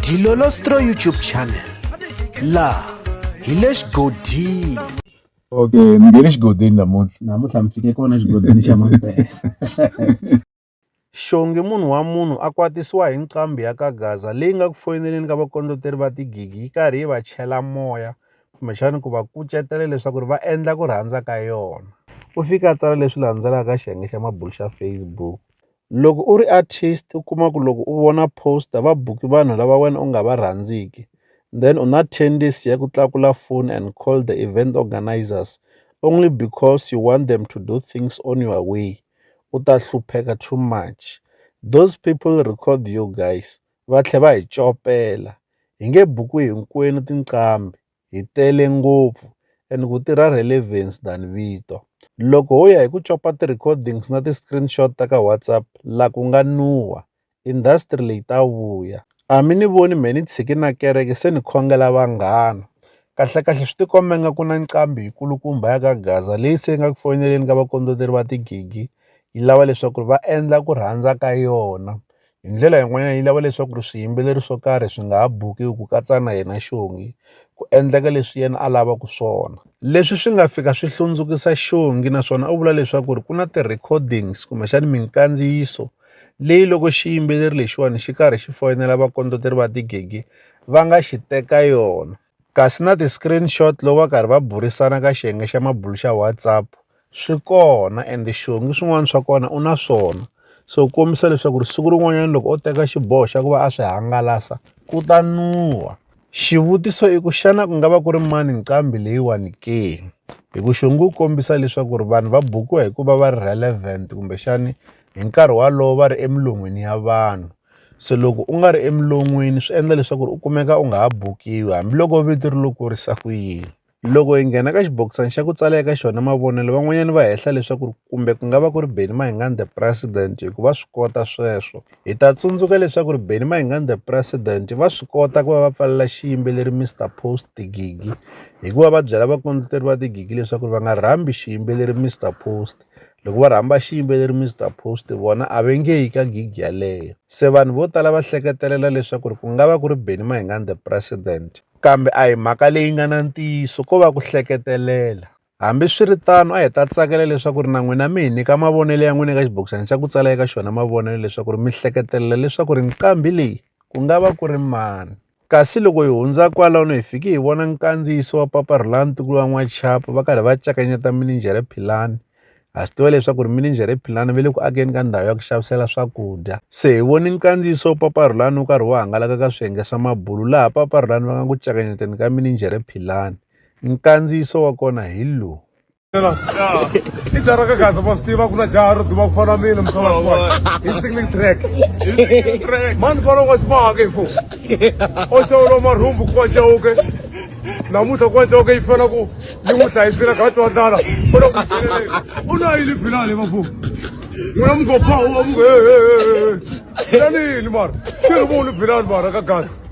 Dilolostro YouTube channel la hi le xigodini okay mi nge le xigodini namuntlha namuntlha mi fike kona xigodini xa mampela xongi munhu wa munhu a kwatisiwa hi nqambi ya ka gaza leyi nga ku foyineleni ka vakondloteri va tigigi yi karhi yi va chela moya kumbexani ku va kucetela leswaku ri va endla ku rhandza ka yona u fika a tsala leswi landzelaka xiyenge xa mabulo xa facebook Loko u ri artist u kuma ku loko u vona post va book vanhu lava wena u nga va rhandziki then u na tendency ya ku tlakula foni and call the event organizers only because you want them to do things on your way u ta hlupheka too much those people record you guys va tlhela va hi copela hi nge buku hinkwenu tinqambi. hi tele ngopfu and ku tirha relevance than vito. Loko ho ya hi ku copa ti-recordings na ti-screenshot ta ka WhatsApp la ku nga nuwa, industry leyi ta vuya. A mi ni voni me ni tshiki na kereke se ni khongela vanghana. Kahlekahle swi tikomba nga ku na nqambi yikulukumba ya ka Gaza leyi se nga ku foyineleni ka vakondleteri va tigigi yi lava leswaku va endla ku rhandza ka yona. Hi ndlela yin'wanyana yi lava leswaku swiyimbeleri swo karhi swi nga ha buki ku katsa na yena xongi ku endleka leswi yena a lavaka swona. Leswi swi nga fika swi hlundzukisa xongi naswona u vula leswaku ku na ti recordings kumbexana minkandziyiso leyi loko xiyimbeleri lexiwani xi karhi xi foyinela vakondleteri va tigege va nga xi teka yona. kasi na ti-screenshot loko va karhi va burisana ka xiyenge xa mabulo xa WhatsApp swi kona and xihungu swin'wana swa kona u na swona so ku kombisa leswaku ri siku rin'wanyana loko o teka xiboho xa ku va a swi hangalasa ku ta nuwa xivutiso i ku xana ku nga va ku ri mani nqambi leyiwani ke hi ku xihungu ku kombisa leswaku ri vanhu va bukiwa hikuva va ri relevant kumbexani hi nkarhi walowo va ri emilon'wini ya vanhu Se loko u nga ri emilon'weni swi endla leswaku u kumeka u nga ha bukiwi hambiloko vito ri lo kurisa ku yini. Loko hi nghena ka xibokisana xa ku tsala eka xona mavonelo van'wanyana va hehla leswaku ri kumbe ku nga va ku ri Benny Mayengani the president hi ku va swi kota sweswo. Hi ta tsundzuka leswaku ri Benny Mayengani the president va swi kota ku va va pfalela xiyimbeleri Mister Post Gigi hi ku va va byela vakondleteri va The Gigi leswaku va nga rhambi xiyimbeleri Mister Post. Loko va rhamba xiyimbeleri Mister Post vona a va nge yi ka gig yaleyo. Se vanhu vo tala va hleketelela leswaku ri ku nga va ku ri Benny Mayengani the president. Kambe a hi mhaka leyi nga na ntiyiso ko va ku hleketelela. Hambi swi ri tano a hi ta tsakela leswaku ri na n'wina mi hi nyika mavonelo ya n'wina eka xibokisana xa ku tsala eka xona mavonelo leswaku ri mi hleketelela leswaku ri nqambi leyi ku nga va ku ri mani. Kasi loko hi hundza kwalano hi fike hi vona nkandziyiso wa papa ra ntukulu wa n'wachapo va karhi va cakanyeta mininjhere philani ha swi tiva leswaku ri mininjhere philani va le ku akeni ka ndhawu ya ku xavisela swakudya se hi voni nkandziyiso wa papa rulani wu karhi wu hangalaka ka swiyenge swa mabulu laha papa rulani va nga ku cakanyeteni ka mininjhere philani nkandziyiso wa kona hi lowu i jaha ra ka gaza ma swi tiva ku na jaha ro duma ku fana mina msalakuwa hi singling track mani fana wa ximahaka hi fo o xewolo marhumbu kuwa jawuke namuntlha kuwa jawuke yi fana ku yi n'wi hlayisile kha twa ndlala u na ku u na yini bilale va fo n'wina mugophawu wa mungu hehehehe yanini mara xi ri voni bilale mara ka gaza